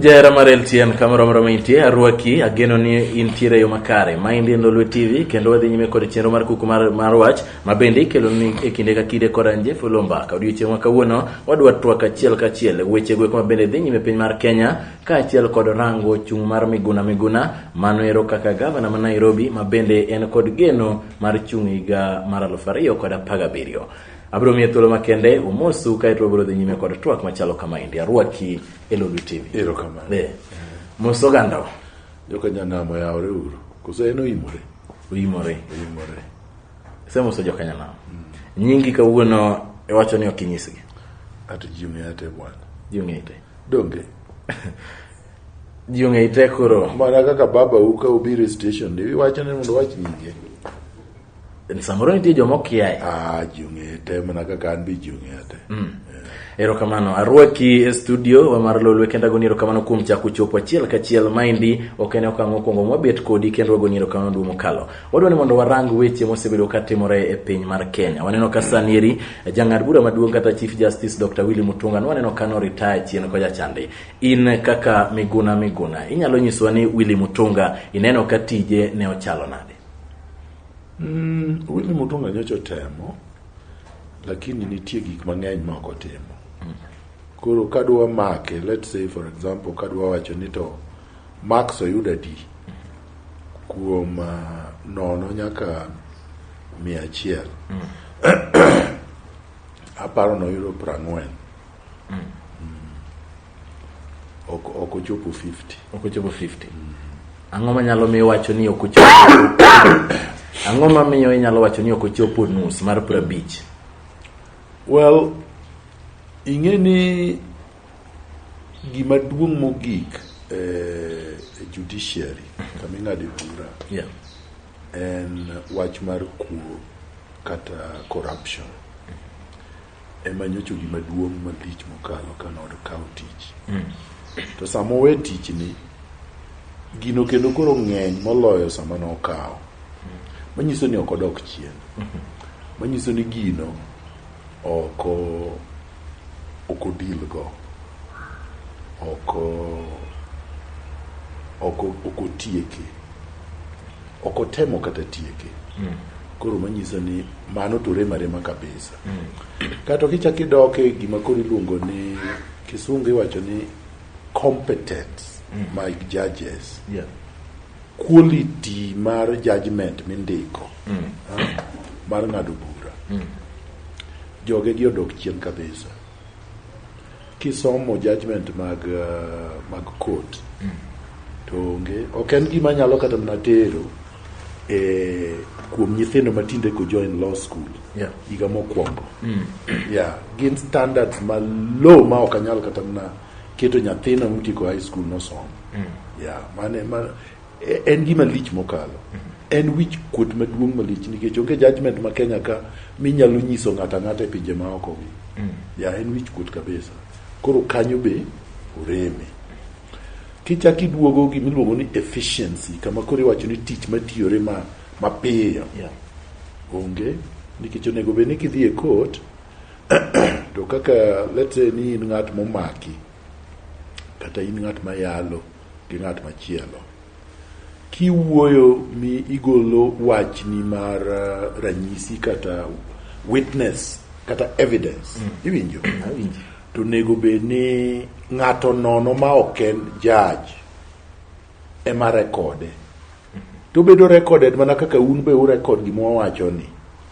Jera mar LTN kamoro moro ma intie, arwaki, ageno ni intiere e yo makare. Ma endi en Lolwe TV kendo wadhi nyime kod chenro mar kuku mar, mar wach ma bende ikelo ni e kinde ka kinde kod anje fulo mbaka. Odiochieng' ma kawuono wadwa twak achiel kachiel e weche gweko ma bende dhi nyime piny mar Kenya kaachiel kod rango chung' mar Miguna Miguna, mano ero kaka gavana ma Nairobi ma bende en kod geno mar chung' higa mar aluf ariyo kod apar gabiriyo. Abiro miye thuolo makende umosu kaeto wabiro dhi nyime kod twak machalo kama endi. Arwaki e Lulu TV. Erokamano. Eh, Mos ogandawa. Joka nyanam oyawore uru. Koso en oimore. Oimore. Oimore. Isemoso joka nyanam. Nyingi kawuono iwacho ni ok inyisgi. Ato ji ong'eya te bwana. Ji ong'eyi te. Donge. Ji ong'e ite koro. Mana kaka baba u ka ubiro e station ni iwacho ni mondo wach nyinge. Samoro nitie joma okiaye. Ah, ji ong'e ite mana kaka an be ji ong'e ite. Mm. Erokamano arwaki e studio wa mar Lolwe kendo agoni erokamano kuom chako chopo achiel kachiel. Maendi ok en okang' mokwongo mwabet kodi kendo wagoni erokamano duong' mokalo. Wadwa ni mondo warang weche mosebedo ka timore e piny mar Kenya. Waneno ka sani eri jang'ad bura maduong' kata Chief Justice Dr. Willy Mutunga nwaneno ka no retire chien koja chande. In kaka Miguna Miguna, inyalo nyiswa ni Willy Mutunga ineno ka tije ne ochalo nade? Mm, Willy Mutunga nyocho temo lakini nitie gik mang'eny ma ok otimo. Koro kadwa make, let's say for example kadwa wacho ni to Max oyuda di kuom ah, nono nyaka mia achiel aparo noyudo prang'wen ok ok ochopo 50 ok ochopo 50 ang'o manyalo miyo wacho ni ok ochopo ang'o mamiyo inyalo wacho ni ok ochopo nus mar prabich well ing'e ni gima duong' mogik e e judiciary kama ing'ade bura Yeah. en wach mar kuo kata corruption ema nyocho gima duong' malich mokalo ka nod kawo tich to sama owe tichni gino kendo koro ng'eny moloyo sama nokawo manyiso ni ok odok chien manyiso ni gino ok o- ok o deal go, ok otieke, ok otemo kata tieke. Mm. Koro manyiso ni mano to rem arema kabisa. Mm. Kato kichak idok e gima koro iluongo ni kisungu iwacho ni competence mm. my judges. Yeah. quality mar judgment mindiko mm. ha? mar ng'ado bura mm. joge gi odok chien kabisa kisomo judgment mag uh, mag court mm. to onge ok en gima nyalo kata mana tero e kuom nyithindo matinde ko join law school yeah. higa mokwongo mm. yeah. gin standards ma low ma ok anyal kata mana keto nyathina mtieko high school nosomo mm. ya mane man e, en gima lich mokalo en wich kuot maduong' malich nikech onge judgment ma Kenya ka minyalo nyiso ng'ata ng'ata e pinje ma oko gi mm. ya en wich kuot kabisa koro kanyo be oreme kichak iduogo gima iluongo ni efficiency kama koro iwacho ni tich matiyore ma mapiyo yeah. onge nikech onego bed ni kidhi e court to kaka let's say ni in ng'at momaki kata in ng'at ma yalo gi ng'at machielo kiwuoyo mi igolo wachni mar uh, ranyisi kata witness kata evidence mm. iwinjo to nego bed ni ng'ato nono ma ok en judge ema rekode to bedo recorded mana kaka un be urekod gima wawacho ni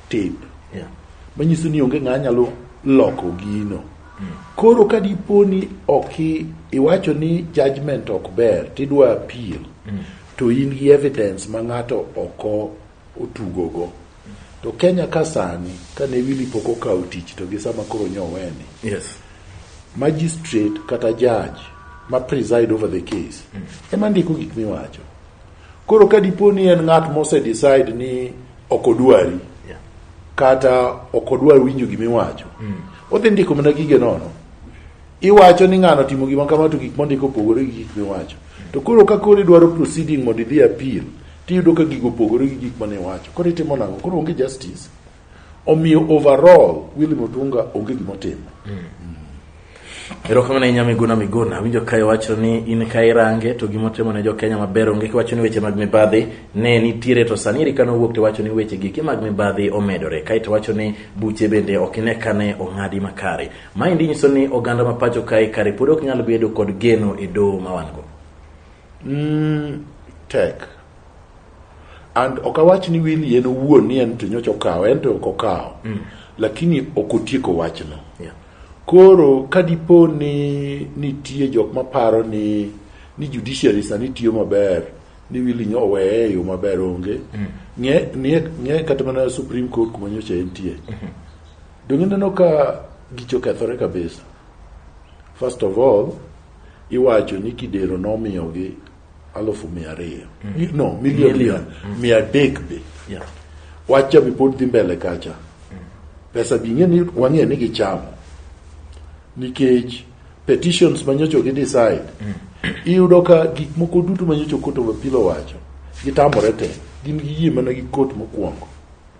tape yeah. manyiso ni onge ng'aa nyalo loko gino mm. koro ka dipo ni ok iwacho ni judgment ok ber tidwa appeal mm. to in gi evidence ma ng'ato oko otugogo to Kenya ka sani kane Willy pok okawo tich to gi sama koro nyo weni yes. magistrate kata judge ma preside over the case mm. ema ndiko gik miwacho koro ka dipo ni en ng'at mose decide ni ok odwari yeah. kata ok odwar winjo gimiwacho mm. odhi ndiko mana gige nono Iwacho ni ng'ano timo gima kama to gik mondiko opogore gi gik miwacho. To koro ka koro idwaro proceeding mondo idhi appeal, tiyudo ka gigo opogore gi gik mane iwacho. Koro itimo nang'o? Koro onge justice. Omiyo overall Willy Mutunga onge gima otimo. Erokamano ahinya Miguna Miguna. Awinjo ka iwacho ni in ka irange to gima otimo ne Jokenya maber onge kiwacho ni weche mag mibadhi ne nitiere to sani eri kane owuok to iwacho ni weche giki mag mibadhi omedore kae to iwacho ni buche bende ok ine kane ong'adi makare. Maendi nyiso ni oganda ma pacho kae kare pod ok nyal bedo kod geno e doho ma wan go. Mm, tek. And ok awach ni Willy en owuon ni en to nyocha okawo, en to ok okawo. Mm. Lakini ok otieko wachno. Yeah. Koro ka dipo ni nitie jok maparo ni ni judiciary sani tiyo maber ni Willy nyo oweye e yo maber onge. Mm. Ng'e, ng'e, ng'e kata mana Supreme Court kuma nyocha entie. Mm -hmm. Donge neno ka gicho kethore kabisa? First of all, iwacho ni kidero nomiyogi alufu mia ariyo mm. no milion milion mm. mia adek be yeah. wacha be pod dhi mbele kacha mm. pesa bi ng'e ni wang'e ni gichamo nikech petitions manyocho gi decide mm. iyudo ka gik moko duto manyocho koto wapilo wacho gitamore te gin gi yie mana gi kot mokwongo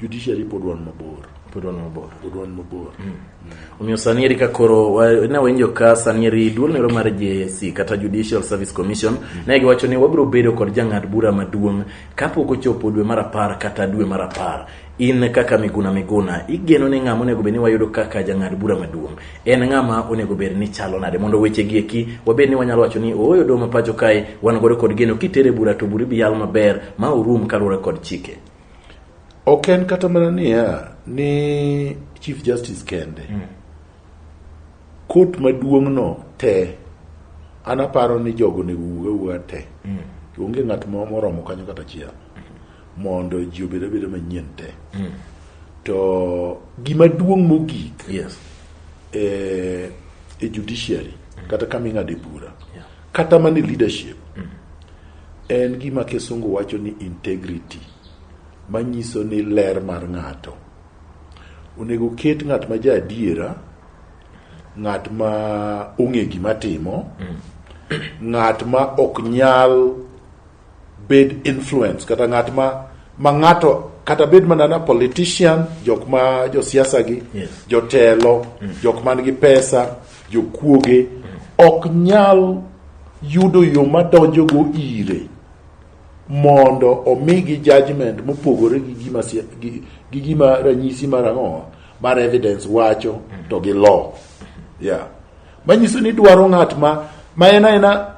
Judiciary pod wan mabor. Pod wan mabor. Pod wan mabor. Mm. Mm. Omiyo sani eri ka koro ne wainjo ka sani eri duol nero mar JSC kata Judicial Service Commission mm. ne giwacho ni wabiro bedo kod jang'ad bura maduong' kapok ochopo dwe mar apar kata dwe mar apar in kaka Miguna Miguna igeno ni ng'ama onego bed ni wayudo kaka jang'ad bura maduong' en ng'ama onego bed ni chalo nade mondo weche gi eki wabed ni wanyalo wacho ni ooyo doho ma pacho kae wan godo kod geno kitere bura to bura ibiyal maber ma urum kaluwore kod chike Ok en kata mana niya ni Chief Justice kende. Mm. Kot maduong'no te an aparo ni jogo onego wuog awuoga te. Mm. Onge ng'at moro moromo kanyo kata achiel mondo ji obed abeda manyien te. Mm. To gima duong' mogik yes. e, e judiciary mm. kata kama ing'ade bura Kata mana e leadership en gima kisungu wacho ni integrity manyiso ni ler mar ng'ato. Onego ket ng'at ma ja adiera, ng'at ma ong'e gima timo, ng'at ma ok nyal bed influence kata ng'at ma ma ng'ato kata bed mana na politician jok ma josiasa gi yes. jotelo mm. jok man gi pesa jokuoge mm. ok nyal yudo yo madonjo go ire mondo omigi judgment mopogore gi gima gi, gi gima ranyisi mar ang'o mar evidence wacho mm. to gi law mm-hmm. yeah Manyiso ni dwaro ng'at ma ma en aena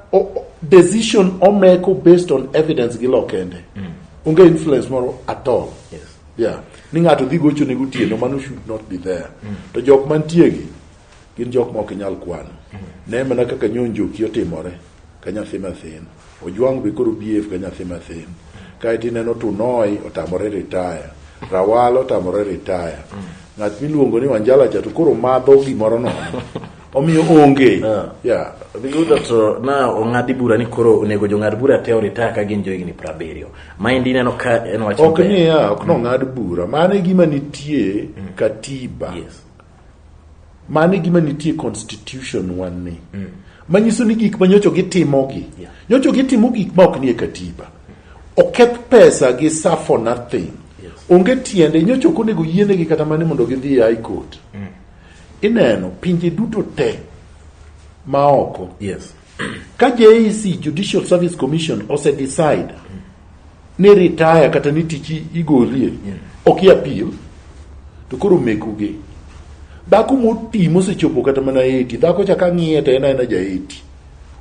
decision omeko based on evidence gi lo kende. Mm. Onge influence moro at all. Yes. Yeah. Ni ng'ato dhi gocho ne gotieno mm. mano should not be there. Mm. To jok mantie gi gin jok ma ok nyal kwano. Mm. Ne mana kaka nyonjoki otimore ka nyathi mathin. Ojwang be koro BF ka nyathi mathin. Kae to ineno Tunoi otamore retire. Rawal otamore retire. Ng'at miluongo ni Wanjala cha to koro madho gimoro nono. Omiyo onge. Yeah. Yeah. Giyudo to na ong'adi bura ni koro onego jong'ad bura te oritaya ka gin johigni piero abiriyo. Maendi ineno ka en wach Ok maber. niya, ok nong'ad bura. Mano e gima nitie katiba. Yes. Mano e gima nitie constitution wan ni. Mm. Manyiso ni gik ma nyocho gitimogi. Yeah. Nyocho gitimo gik ma ok nie katiba. Oketh pesa gi sa for nothing. Yes. Onge tiende nyocho ok onego yienegi kata mane mondo gidhi e high court. Mm. Ineno pinje duto te ma oko. Yes. Ka JEC, Judicial Service Commission, ose decide ni retire kata ni tich igolie, ok i appeal, to koro mekoge. Dhako moti mosechopo kata mana 80, dhako cha ka ng'iye to en aena ja 80.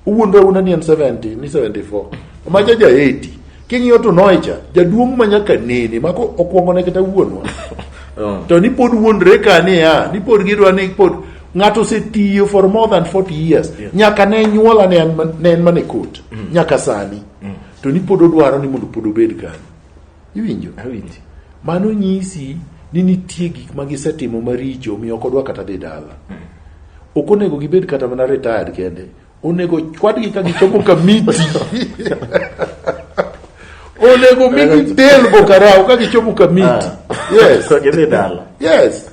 Owuondre awuonda ni en 70, ni 74. Ma cha ja 80. King'iyo to noe cha, jaduong' ma nyaka nene, ma ko- okwongone kata wuonwa. To ni pod wuondre ka niya, ni pod gidwa ni pod ng'ato osetiyo for more than 40 years yeah. nyaka ne nyuola ne en mane kot mm. nyaka sani mm. to ni pod odwaro ni mondo pod obed kanyo iwinjo mano nyisi ni nitie gik ma gisetimo maricho omiyo ok odwa kata dhi dala mm. ok onego gibed kata mana retired kende Onego chwadgi ka gichopo kamiti. Onego migi del bokarao ka gichopo kamiti. Ah. Yes. So gidhi dala. Yes.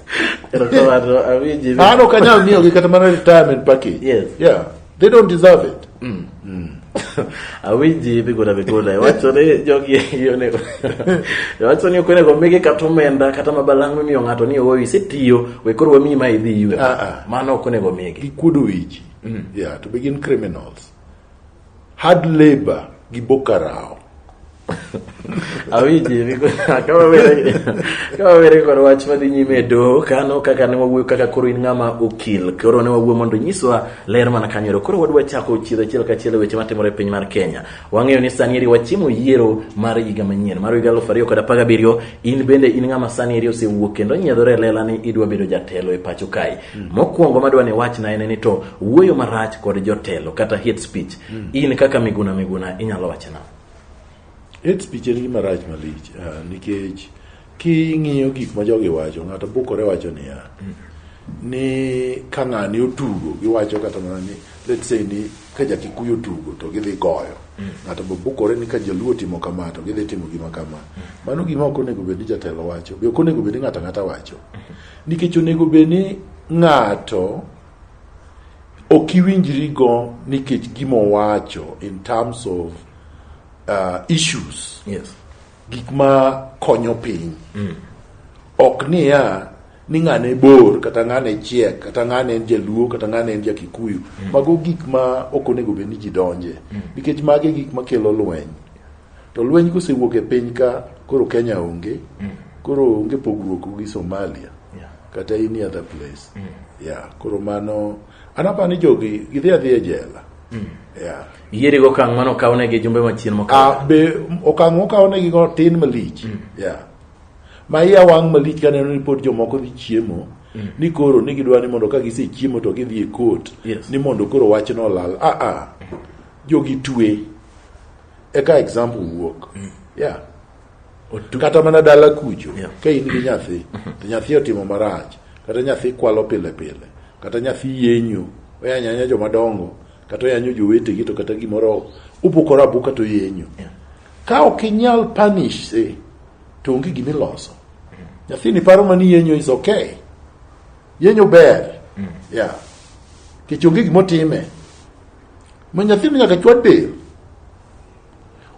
Erokamano awinji. Mano ok anyal miyogi kata mana retirement package. Yes. Yeah. They don't deserve it. Mm. Mm. awinji migona migona iwacho ni jogi onego iwacho ni ok onego migi kata omenda kata mabalang' mimiyo ng'ato ni owo isetiyo we koro wamiyi ma idhi ywe ah, ah. mano ok onego migi gikuodo wich mm. yeah, to begin criminals hard labor gi bokarao awinji kama were kod wach madhi nyime e doho kano kaka ne wawuoyo kaka koro in ng'ama okil koro ne wawuoyo mondo nyiswa ler mana kanyoro koro wadwa chako chiedho achiel kachiel e weche matimore e piny mar kenya wang'eyo ni sani eri wachimo yiero mar higa manyien mar higa aluf ariyo kod apar gabiriyo in bende in ng'ama sani eri osewuok kendo onyiedhore e lela ni idwa bedo jatelo e pacho kae Mm. Mokwongo madwa ni wachna en ni to wuoyo marach kod jotelo kata hate speech mm. in kaka Miguna Miguna inyalo wachna. Hate speech en gima rach malich uh, nikech king'iyo gik ma jogi wacho ng'ato bukore wacho niya mm. ni ka ng'ani otugo giwacho kata mana ni let's say ni ka jakikuyu otugo to gidhi goyo mm. ng'ato mm. bukore ni ka jaluo timo kama to gidhi timo gima kama mm. mano gima ok onego bed ni jatelo wacho be ok onego bed ni ng'ato ang'ata wacho mm. Nikech onego bed ni ng'ato ok iwinjri go nikech gima owacho in terms of uh, issues yes. gik ma konyo piny mm. ok niya ni ng'ane bor kata ng'ane chiek kata ng'ane en jaluo kata ng'ane en jakikuyu mm. mago gik ma ok onego bed ni ji donje mm. nikech mage gik makelo lweny To lweny kosewuok e piny ka koro Kenya onge, mm. koro onge pogruok gi Somalia yeah. kata any other place. Mm. Yeah, koro mano anapa ni jogi gidhi adhi e jela. Mm. Yeah. Yiere go kang mano kawne gi jumbe machien mokalo. Ah be okang okawne gi go tin malich. Mm. Yeah. Ma iya wang malich ka neno report jomoko dhi chiemo. Mm. Ni koro ni gidwa ni mondo ka gise chiemo to gidhi e court yes. ni mondo koro wachno olal. Ah ah. Jogi twe. eka example wuok mm. yeah kata mana dala kucho yeah. ka in gi nyathi mm-hmm. to nyathi otimo marach kata nyathi kwalo pile pile kata nyathi yenyo oyanyanya joma dongo kata oyanyo jowetegi to kata gimoro ubukore abuka to yenyo yeah. ka ok inyal punish se to onge gima iloso mm. nyathini paro mani yenyo is okay yenyo ber mm. yeah. kech onge gima otime ma nyathino nyaka chwad del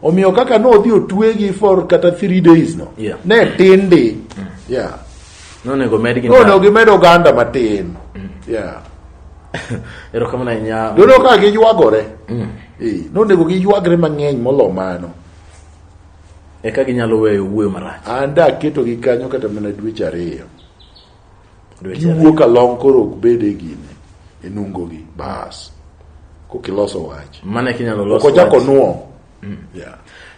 omiyo kaka nodhi otwegi for kata three days no yeah. ne tin di mm. yeah. nonego gimed oganda matin mm. yeah. erokamano ahinya dono ka giywagore mm. nonego giywagre mang'eny molo mano eka ginyalo weyo wuoyo marach an daketogi kanyo kata mana dweche ariyo giwuok along koro ok bed e gine e nungogi bas kokiloso wach mane kinyalo loso kochako nuo mm. yeah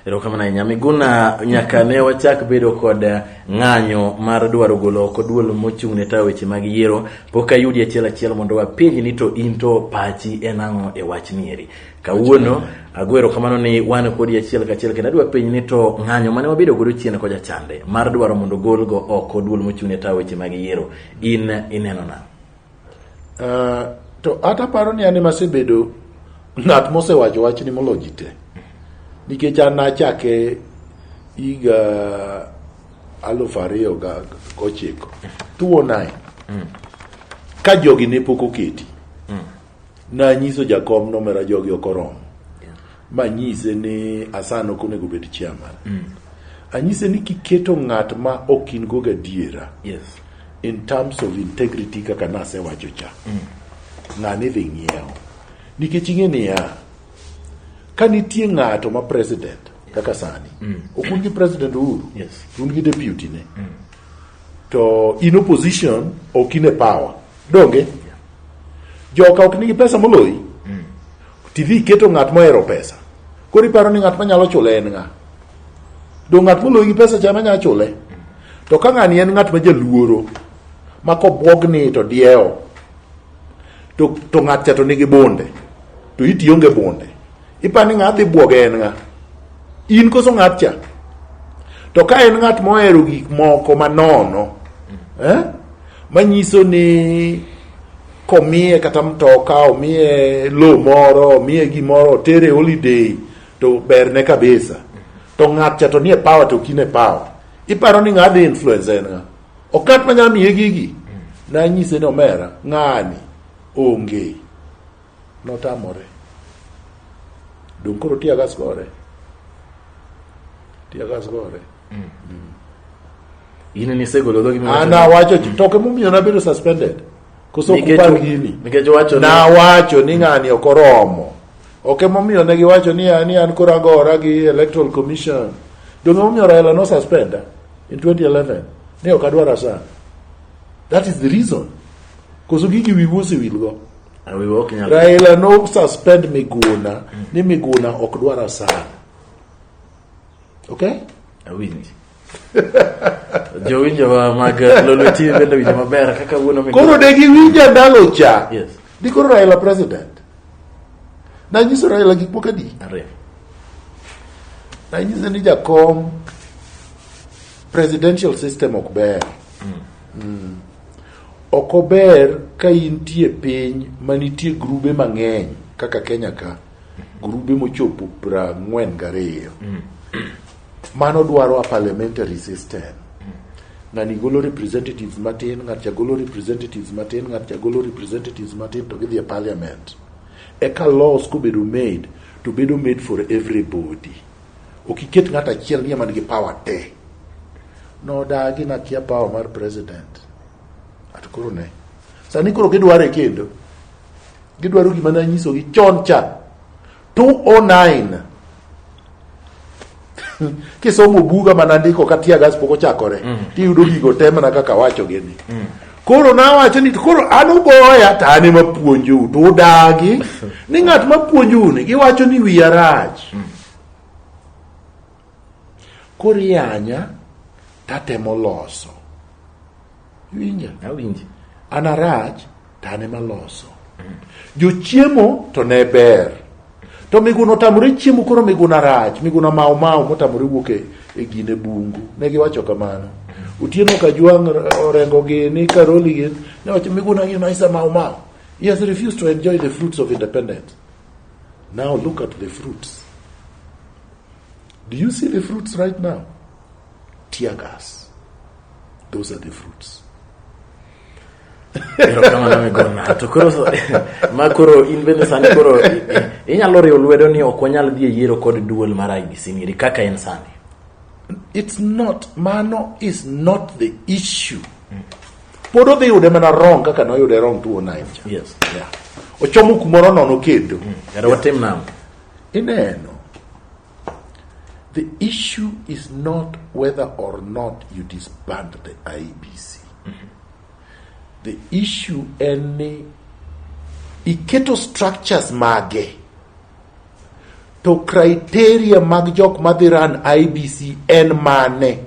erokamana ahinya miguna nyaka ne wachak bedo kod ng'anyo mar dwaro golo oko duol mochung' ne tayo weche mag yiero pok ayudi achiel achiel mondo wapenji ni to in to pachi en ang'o e wach nieri Kawuono ago erokamano ni wan kodi achiel kachiel kendo adwa penj ni to ng'anyo mane wabedo godo chien koja chande mar dwaro mondo golgo oko duol mochung'ne tawo weche mag yiero in ineno na uh, to ata paro ni an emasebedo ng'at mosewacho wachni molo ji te nikech an nachake higa alufu ariyo gochiko tuwo naye mm. ka jogi ne pok oketi Nanyiso jakom nomera jogi ok oromo. Manyise ni Asan ok onego obed chairman. Mm. Anyise ni kiketo ng'at ma ok in go gadiera yes. in terms of integrity kaka nasewacho cha mm. ng'ani dhi ng'iewo nikech ing'e niya ka nitie ng'ato ma president kaka sani mm. ok un gi president Uhuru yes. un gi deputy ne mm. to in opposition ok in e power Donge joka ok nigi pesa moloyi? Mm. Tidhi iketo ng'at mohero pesa. Koro iparo ni ng'at manyalo chule en ng'a? Do ng'at moloyi gi pesa cha manyalo chule? To ka ng'ani en ng'at ma jaluoro ma kobwogni to diewo to, to ng'at cha to nigi bunde to iti onge bunde Ipa ni ng'adhi bwoge en ng'a? In koso ng'at cha? To ka en ng'at mohero gik moko manono, eh? manyiso ni komiye kata mtoka omiye lo moro omiye gimoro otere holiday to berne kabisa to ng'at cha to nie power to kine power iparo ni ng'adhi influence en ng'a okat manyamiye gigi nanyise ni omera ng'ani onge notamore dong koro tiagas gore tiagas gore in nisegolo dhogi miwacho- ana wacho toke momiyo nabedo suspended koso Nikech- kupar gini nikech wacho ni- nawacho ni ng'ani ok oromo ok emomiyo ne giwacho ni an ni an koro agora gi electoral commission donge momiyo raila no suspenda in 2011 ni ok adwar asan that is the reason koso gigi wiwu osewilgo And we were walking along. Raila no suspend Miguna, ni Miguna ok dwar asara. Okay? Awinji. Jowinjowa mag Lolo TV bende winjo maber kaka wuono Miguna. Koro de giwinja ndalo cha. Yes. Di koro Raila president. Na nyiso Raila gik moko adi. Ariyo. Na nyiso ni jakom presidential system ok ber. Mm. Ok ober ka intie piny manitie grube mang'eny kaka Kenya ka, grube mochopo prang'wen gariyo. Mano dwaro a parliamentary system. Ng'ani golo representatives matin, ng'atcha golo representatives matin, ng'atcha golo representatives matin to gidhi e parliament. Eka laws kobedo made to bedo made for everybody. Ok iket ng'at achiel ni ema nigi power te. Nodagi nakia power mar president. At koro ne. Sani koro gidware kendo. Gidwaro gima ne anyisogi chon cha. 209 kisomo buga mana ndiko ka tiagas pok ochakore tiyudo gigo te mana kaka awacho gini Koro nawacho ni koro an ugoya to an ema puonjou to udagi ni ng'at ma puonjou ni giwacho ni wiya rach. Koro iyanya tatemo loso. Iwinja? Awinji. An arach to an ema loso. Jochiemo to ne ber. To miguna otamore chiemo koro miguna rach, miguna mau mau motamore wuok e, e gine bungu. Ne giwacho kamano. Otieno Kajwang' orengo gini Karoli gini ne wacho miguna gini isa mau mau. He has refused to enjoy the fruits of independence. Now look at the fruits. Do you see the fruits right now? Tear gas. Those are the fruits. erokamano migor ng'ato to koro ma koro in bende sani koro inyalo riwo lwedo ni ok wanyal dhi e yiero kod duol mar ibc ngiri kaka en sani it's not mano is not the issue pod odhi yude mana wrong kaka noyude wrong 209 cha yes yeah. ochomo kumoro nono kendo mm. kata watim namo ineno The issue is not whether or not you disband the IBC. The issue en ni iketo structures mage to criteria mag jok madhi run IBC en mane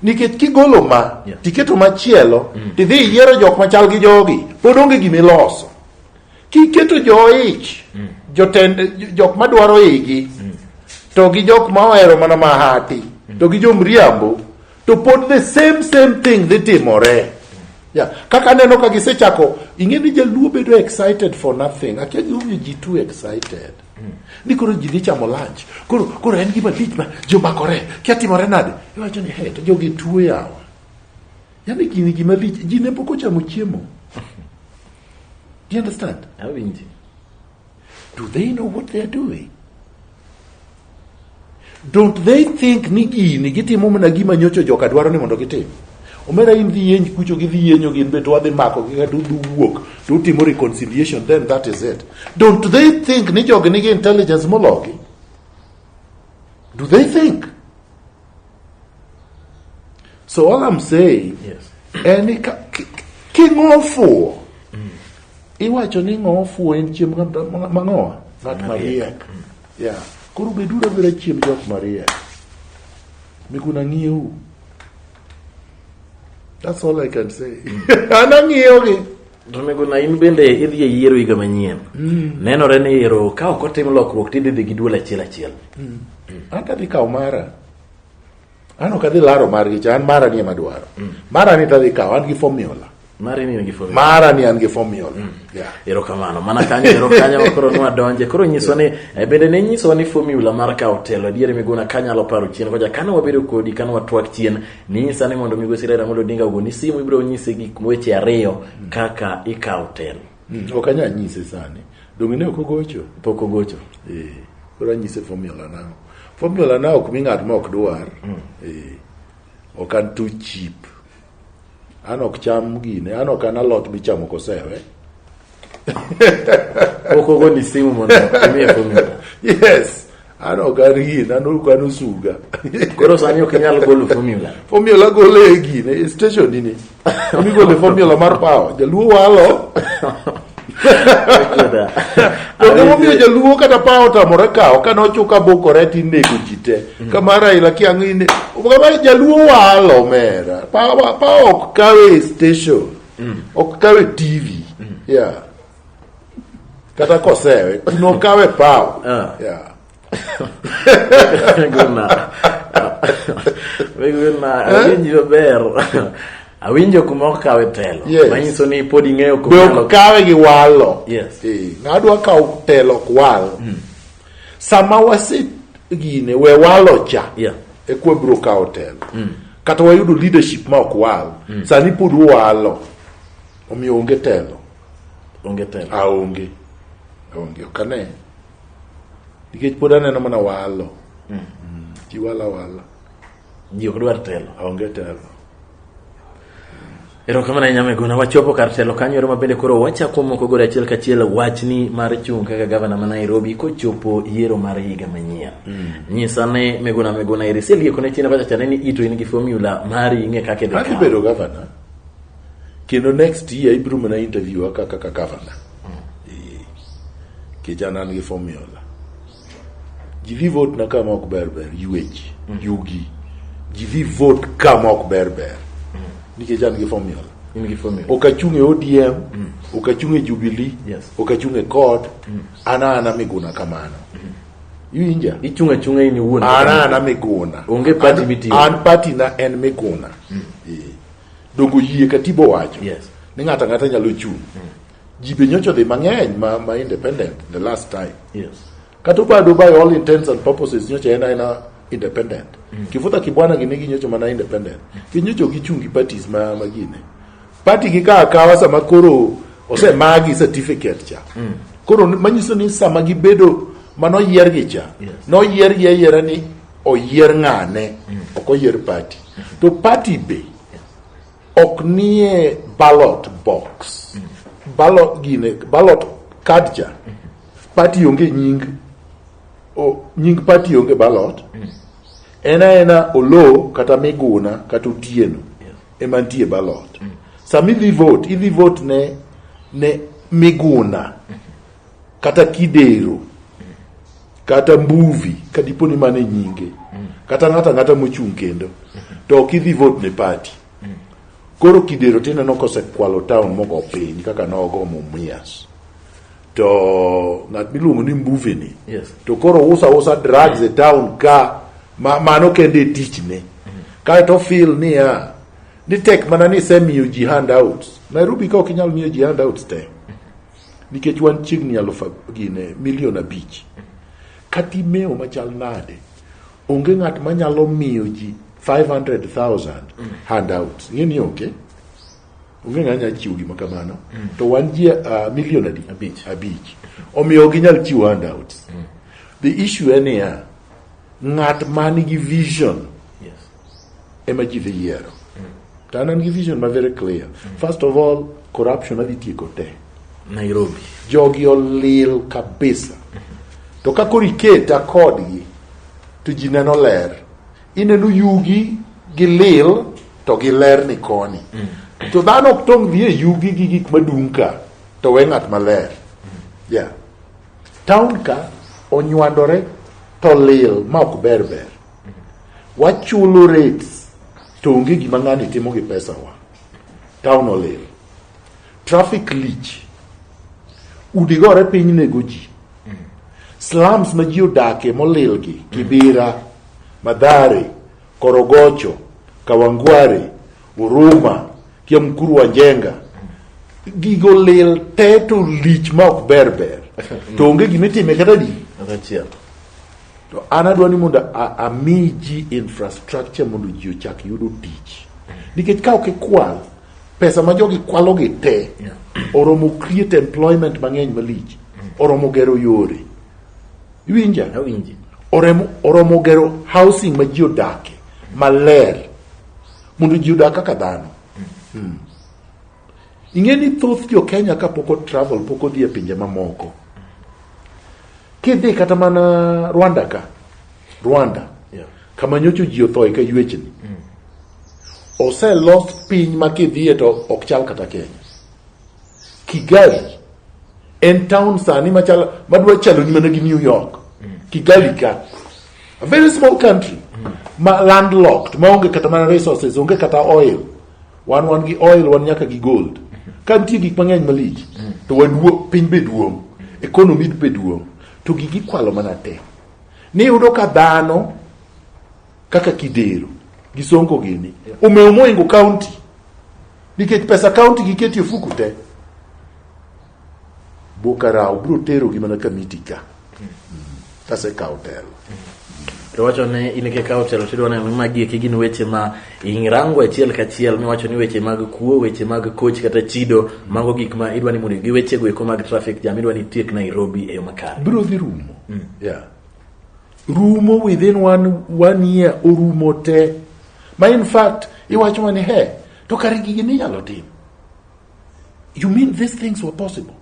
nikech kigolo ma Yeah. tiketo machielo tidhi iyiero jok machal gi jogi pod onge gimiloso Kiketo jo-ich, mm. jotend jok madwaro igi, mm. to gi jok ma ohero mana mahati, mm. to gi jomriambo, to pod the same same thing dhi timore. Yeah. Kaka aneno ka gisechako, ing'e ni jaluo bedo excited for nothing. Akia gimomiyo ji too excited. Mm. Ni koro ji dhi chamo lunch. Koro, koro en gima lich ma jomakore. Kia timore nade? Iwacho ni, hey, to jogi tuo yawa. Yaani gini gima lich, ji ne pok ochamo chiemo. Do you understand? Awinji. Do they know what they are doing? Don't they think ni gini gitimo mana gima nyocho joka dwaro ni mondo gitim? Omera in dhi yenj kucho gi dhi yenyo gin be to wadhi mako gi kata du wuok to utimo reconciliation then that is it. Don't they think ni jogi nigi intelligence mologi? Do they think? So all I'm saying, yes. any king ofuo mm. iwacho ni ng'o ofuo en chiemb mang'owa ng'at mariek mm. ya koro beduru abira chiemb jok mariek mikuna ng'iewu that's all I can say mm. an ang'iewogi Tonegona in bende idhi e yiero higa manyien. Mm. Nenore ni yiero ka ok otim lokruok tidhi dhi gi duol achiel achiel. Mm. Mm. An tadhi kawo mara. An ok adhi laro margi cha, an mara ni ema dwaro. Mm. Mara ni tadhi kawo, an gi formula. Mara ni an gi formula. Mara ni an gi formula. Mm. Yeah. Ero kamano. Mana kanyo, ero kanyo koro nwa donje. Koro nyiso ni, eh, bende ne nyiso ni formula mar kawo telo. Diere miguna kanyalo paro chien. Koja kane wabedo kodi, kane watwak chien. Nyisa ni mondo Migosi Raila Amolo Odinga ogoni simu ibiro nyise gik weche ariyo kaka ikawo telo. Mm, ok anyal nyise sani. Donge ne ok ogocho? Pok ogocho. Eh, koro anyise formula na. Formula na ok mi ng'at ma ok dwar. Mm. Eh, ok an too cheap. An ok cham gine, an ok an alot michamo kosewe. okogo ni simu mondo imiye formula yes an ok arie nan ok an osuga koro sani ok inyal golo formula formula golo e gine e station nini migole formula mar power jaluo walo Donge momiyo jaluo kata pa otamore kawo kane ochuka bokore ti nego ji te kama Raila kiang'ine kama jaluo walo mera pa pa ok kawe e station ok kawe tv yeah. kata kosewe kuno kawe paw Ah. yeah. Guna. Guna, awinji maber. Awinjo kuma okawe telo. Yes. Manyiso ni pod ing'eyo be kuma ok kawe gi walo Yes. Eh, ng'adwa kawo telo ok wal sama wase gine we walo cha yeah. e kwa biro kawo telo mm. kata wayudo leadership ma ok wal mm. sani pod walo omiyo onge telo onge telo aonge aonge ok ane nikech pod aneno mana walo mm. mm. ji wala wala ji ok dwar telo aonge telo Erokamano ahinya Miguna, wachopo kar telo kanyo ero mabende koro wachako moko gore achiel kachiel wachni mar chung' kaka gavana ma Nairobi kochopo yiero mar higa manyien. Mm. Nyisa ne Miguna Miguna eri selieko ne china kacha ni ito in gi formula mar ing'e kaka idhi. Kaka ibedo gavana kendo next year ibiro mana interview kaka gavana. Mm. Kijana an gi formula. Jivi vote na kama ok ber ber yueji mm. yugi jivi vote kama ok ber ber mm. nikech an gi formula ok achung' e odm mm. ok achung' e jubili yes. ok achung' e cod mm. ana ana miguna kamano mm. iwinja ichung' achung'a in iwuon ana ana miguna onge party mitiyo an party na en miguna mm. e. dongo yie katibo wacho yes. ni ng'ato ang'ata nyalo chung' mm. ji be nyocha odhi mang'eny ma, ma independent the last time Yes. kata obado by all intents and purposes nyocha en aena independent mm. kifudha kibwana gini ginyocho mana independent ginyocho gichung' gi parties ma, ma gine party gi ka akawa sama koro osemagi certificate cha mm. koro ni- manyiso ni sama gibedo mano yiergi cha Yes. noyiergi ayiera ni oyier ng'ane mm. ok oyier party to party be ok nie ballot box ballot gine ballot card cha party onge nying o, nying party onge ballot en aena olo kata miguna kata otieno ema nitie ballot sama idhi vote idhi vote ne ne miguna kata kidero kata mbuvi ka dipo ni mane nyinge mm. kata ng'ata ng'ata mochung' kendo mm-hmm. to ok idhi vote ne party mm. koro kidero tineno kosekwalo town mogo piny kaka nogo mumias to ng'at miluongo ni mbuvi ni yes. to koro usa usa drugs mm. e town ka ma, mano kende e tichne mm. kae to feel niya ni tek mana ni isemiyo ji handouts nairobi ka ok inyal miyo ji handouts te mm. nikech wan chiegni aluf ab- gine milion abich kata imeo machal nade onge ng'at manyalo miyo ji 500,000 handouts ing'e ni onge onge ng'at nyalo chiwo gima kamano to wan ji uh, milion adi Abich. abich omiyo ok ginyal chiwo handouts the issue en niya ng'at man gi vision ema ji dhi yiero. To an an gi vision ma very clear. First of all, corruption adhi tieko te. Nairobi. Jogi olil kabisa. To ka koro iketa kodgi, to ji neno ler. Ineno yugi gi lil to gi ler ni koni. To dhano ok tong' dhi e yugi gi gik madung' ka, to we ng'at maler. Yeah. Town ka onywandore to lil ma ok ber ber. wachulo rates to onge gima ng'ani timo gi pesawa town olil traffic lich udi gore piny nego ji slums ma ji odakie molil gi kibira madhare korogocho kawangware Huruma kia mkuru wa jenga gigo lil te to lich ma ok ber ber to onge gima itime kata di to an adwa ni mondo ami ji infrastructure mondo ji ochak yudo tich nikech ka ok ikwal pesa ma jogi kwalogi te oromo create employment mang'eny malich oromo gero yore iwinja oromo gero housing ma ji odake maler mondo ji odag kaka dhano hmm. ing'e ni thoth jo Kenya kapok o travel pok odhi e pinje mamoko kidhi kata mana Rwanda ka Rwanda yeah. kama nyocho ji othoe ka yuechni mm. oselos piny ma kidhiye to ok chal kata Kenya Kigali en town sani machal madwa chalo ni mana gi New York mm. Kigali ka a very small country ma landlocked ma onge kata mana resources onge kata oil wan wan gi oil wan nyaka gi gold ka nitie gik mang'eny malich to waduo piny be duong' economy be duong' to gigi kwalo mana te ni yudo ka dhano kaka kidero gi sonko gini omewo moingo county nikech pesa county giketi e fuku te Bokarao biro terogi mana kamiti ka kasekawo telo. to wacho ni in kikawo telo tidwa neno ni magi eki gin weche ma irango achiel kachiel miwacho ni weche mag kuo weche mag koch kata chido mago gik ma idwa ni mondo gi wechego eko mag traffic jam idwa ni itiek nairobi e yo makare biro dhi rumo yeah. rumo within one, one year orumo te ma in fact iwacho ni he to kare gigi ninyalo tim You mean these things were possible?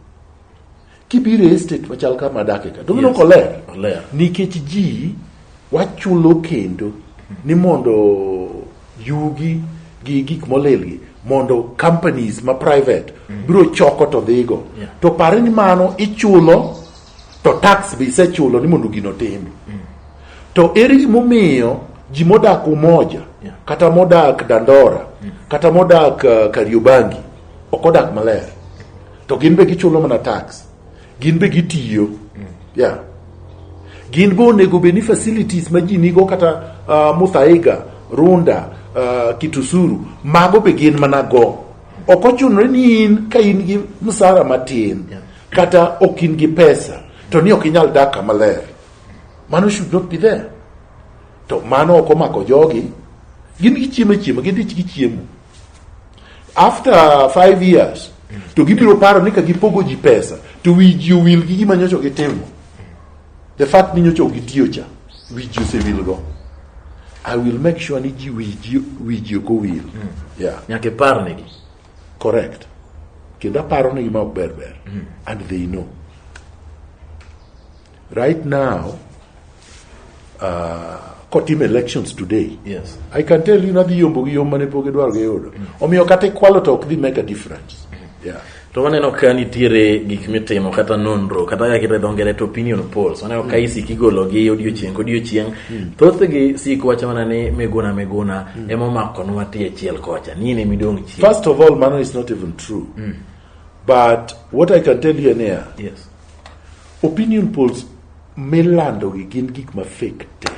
Kibiro e estate machal kama adake ka, donge yes. oler? Oler. Nikech ji wachulo kendo ni mondo yugi gi gik molilgi mondo companies ma private mm. biro choko to dhigo. Yeah. To pare ni mano ichulo to tax be isechulo ni mondo gino tim mm. to eri gimomiyo ji modak umoja yeah. kata modak dandora mm. kata modak uh, kariobangi ok odak maler to gin be gichulo mana tax gin be gitiyo mm. yeah. gin be onego be ni facilities ma ji nigo kata uh, muthaiga runda uh, kitusuru mago be gin mana go ok ochunore ni in ka in gi msara matin yeah. Kata ok in gi pesa to ni ok inyal dak kama ler. Mano should not be there. To mano ok omako jogi. Gin gichiemo chiemo, gidich gichiemo. After five years, to gibiro paro ni ka gipogo ji pesa to wi ji owil gi gima nyocha gitimo the fact ni nyocha gitiyo cha wi ji osewilgo i will make sure ni ji wi ji wi ji ok owil yeah nyaka iparnegi correct kendo aparo ni gima ok ber ber and they know right now uh, kotim elections today Yes. i can tell you nadhi yombo gi yom mane pok idwaro giyudo omiyo kata ikwalo to ok dhi make a difference yeah. to waneno ka nitiere gik mitimo kata nonro kata kaka kite dho ngere to opinion polls waneno ka isik igologi odiochieng' kodiochieng' thothgi sik wacho mana ni miguna miguna mm. ema omakonwa tie chiel kocha ni in emidong' chien first of all mano is not even true mm. but what i can tell you ania yes. opinion polls milandogi gin gik ma fake te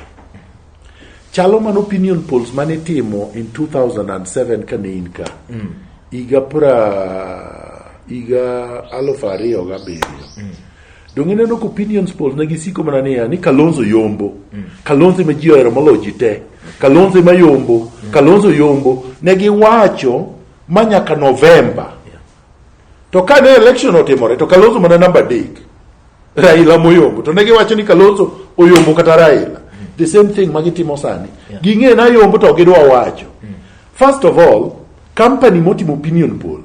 chalo man opinion polls mane timo in 2007 kane in ka mm. higa pra higa aluf ariyo gabiriyo mm. Donge ineno ka opinions polls ne gisiko mana niya ni Kalonzo yombo, mm. Kalonzo ema ji ohero moloyo ji te, Kalonzo ema yombo, mm. Kalonzo yombo. Ne giwacho ma nyaka Novemba. To ka ne election otimore to Kalonzo mana namba adek, Raila moyombo. To ne giwacho ni Kalonzo oyombo kata Raila. Mm. The same thing ma gitimo sani. Ging'e na yombo to gidwa wacho. First of all, company motimo opinion poll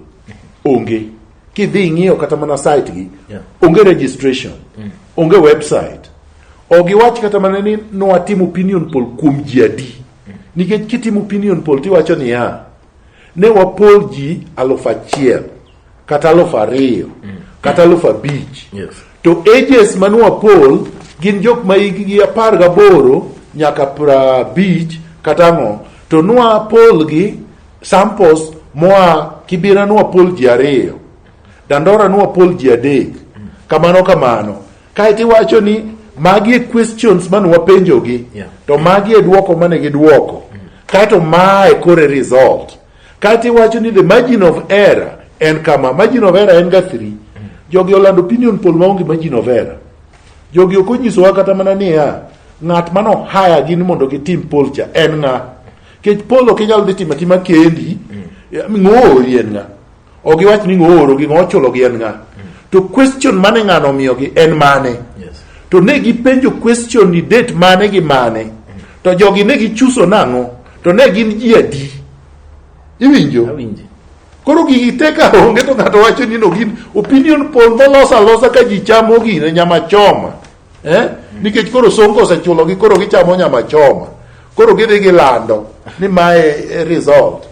onge. Kidhi ing'iyo kata mana site gi yeah. onge registration mm. onge website ogiwach kata mana ni nwatim opinion poll kuom ji adi mm. nikech kitim opinion poll tiwacho niya ne wapol ji aluf achiel kata aluf ariyo mm. kata aluf abich yes. to ages mane wapol gin jok ma hikgi apar gaboro nyaka prabich kata ang'o to nwa polgi Samples moa Kibira nwapol ji ariyo, Dandora nwapol ji adek, kamano kamano. Kae to iwacho ni magi e questions mane wapenjogi, yeah. to magi e duoko mane giduoko, mm. kae to ma e kore result. Kae to iwacho ni the margin of error en kama, margin of error en ga 3. Mm. Jogi olando opinion poll maonge margin of error. Jogi ok onyisowa kata mana niya, ng'at mano haya gin mondo gitim poll cha en ng'a? Kech polo ok inyal dhi tima tima kendi. Mm. Ng'oori en ng'a? Ok giwach ni ng'ooro gi ng'ochulo gi en ng'a? Mm. To question mane ng'ano omiyogi en mane? Yes. To ne gipenjo question ni date mane gi mane? Mm. To jogi ne gichuso nang'o? To ne gin ji adi? Iwinjo? Awinjo. Koro gigi te ka onge to ng'ato wacho ni no gin opinion poll molos alosa ka ji chamo gine nyama choma. eh? nikech koro sonko osechulogi koro gichamo nyama choma koro gidhi gilando ni mae e result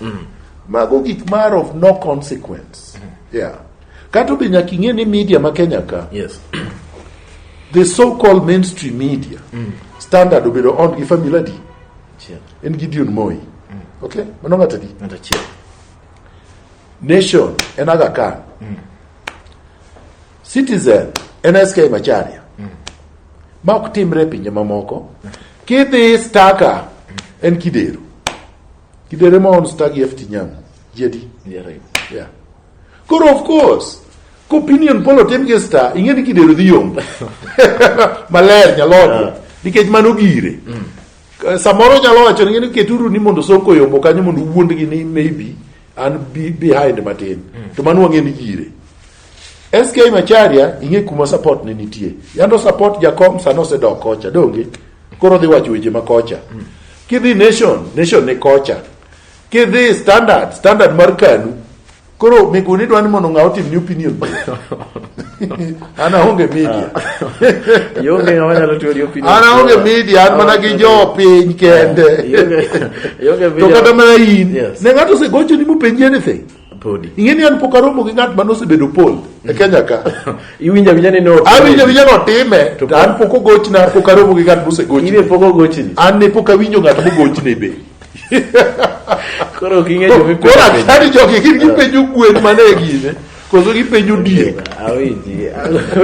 mago gik mar of no consequence yeah. kato be nyaka ing'e ni media ma kenya ka Yes. the so called mainstream media standard obedo on gi family adi Chiel. en gideon moi okay mano ng'ato adi Ng'ato achiel. nation en aga khan Citizen en SK Macharia mm. ma ok timre e pinje mamoko mm. kidhi staka mm. en kidero kidero ma on staki e FT Nyamu jedi yeah, right. yeah. koro of course ko opinion poll otim gi star ing'e ni kidero dhi yombo maler nyalogo yeah. nikech mano gire mm. samoro nyalo wacho ni keturu ni mondo soko yombo kanyo mondo uwuondgi ni maybe an behind matin mm. to mano wang'e ni jire SK Macharia ing'e kuma support ne nitie yando support jakom sano osedok kocha donge koro dhi wacho weche ma kocha mm. kidhi nation nation ni kocha kidhi standard standard mar kanu koro miguni dwa ni mondo ng'a otim ni opinion an aonge media Ionge ng'ama nyalo tiyo gi opinion. an aonge media an mana gi jo piny kende Ionge- ionge to media. kata mana in Yes. ne ng'ato osegochoni mopenji anything Podi. ing'e ni an pok aromo gi ng'at mane osebedo pol e kenya ka Iwinjo awinja ni no. awinjo awinja notime to an pok ogochna pok aromo gi ng'at In e mosegochni pok ogochini. an ne pok awinjo ng'at mogochne be Koro ok ing'e joma ipenjo. koro akani jogi gin gipenjo gwen mane e gine koso gipenjo diek awinji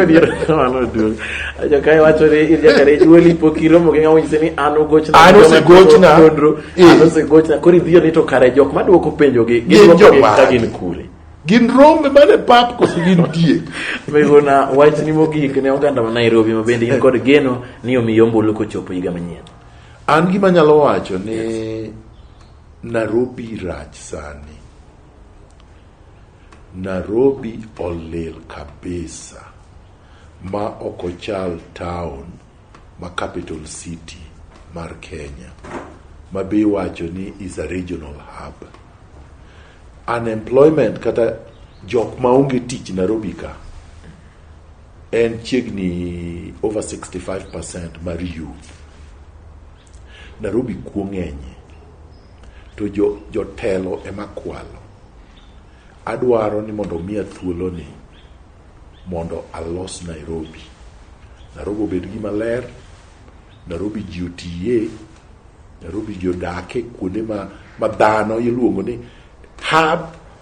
adier mano duong ajo kae wacho ni in nyaka ne nyuoli pok iromo gi ng'ama onyise ni an ugochna An Joma osegochna. timo nonro, Eh. an osegochna koro idhiyo ni to kare jok madwoko penjogi Gin gidwoko joma- gi ka gin kure gin rombe mane pap koso gin diek megona wachni mogik ne oganda ma nairobi ma bende in kod geno ni omi yombulu kochopo higa manyien an gima nyalo wacho ni nairobi rach sani Narobi olil kabisa ma ok ochal town ma capital city mar Kenya ma be iwacho ni is a regional hub. Unemployment kata jok ma onge tich Narobi ka en chiegni over 65% mar youth. Narobi kuo ng'enye. to jotelo ema kwalo. Adwaro ni mondo omiya thuoloni mondo alos Nairobi. Nairobi obed gima ler, Nairobi ji otiye, Nairobi ji odake kuonde ma dhano iluongo ni hub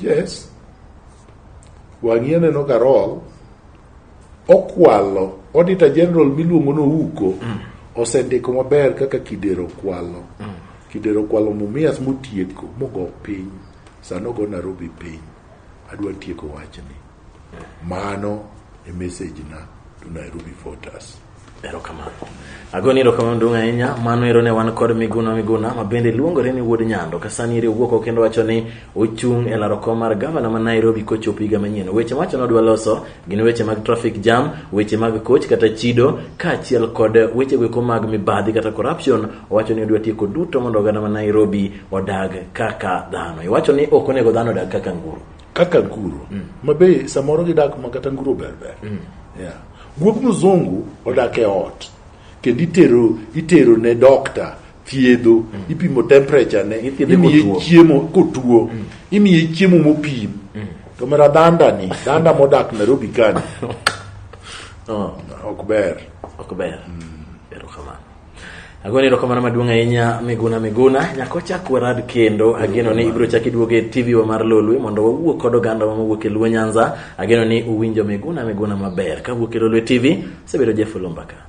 Yes. Wang'ie neno Karol okwalo Auditor General miluongo no Uko mm. osendiko maber kaka Kidero kwalo. Mm. Kidero kwalo Mumias motieko mogo piny. Sano go Nairobi piny. Adwa tieko wachni. Mano e message na to Nairobi Fortas. Erokamano. Ago ni erokamano duong' ahinya. Mano ero ne wan kod Miguna Miguna ma bende luongore ni Wuod Nyando. Ka sani ere owuok kendo wacho ni ochung' e laro kom mar gavana ma Nairobi kochopo higa manyien. Weche macho ne odwa loso gin weche mag traffic jam, weche mag coach kata chido, kaachiel kod weche goeko mag mibadhi kata corruption. Owacho ni odwa tieko duto mondo oganda ma Nairobi odag kaka dhano. Iwacho ni ok onego dhano odag kaka nguru. kaka nguru mm. mabe samoro gidak ma kata nguru berber mm. yeah. guog mzungu odak e ot kendo itero itero ne dokta thiedho mm. ipimo temperature ne imiye chiemo kotuo mm. imiye chiemo mopim mm. to mera danda ni danda modak Nairobi kani oh. ok ber ok ber mm. Agone erokamano maduong' ahinya Miguna Miguna. Nyaka wachak warad kendo. Ageno ni ibiro chak iduogo e TV wa mar Lolwe mondo wawuo kod oganda wa mawuok e Luo Nyanza. Ageno ni uwinjo Miguna Miguna maber. Ka wuok e Lolwe TV, sebedo Jeff Lumbaka.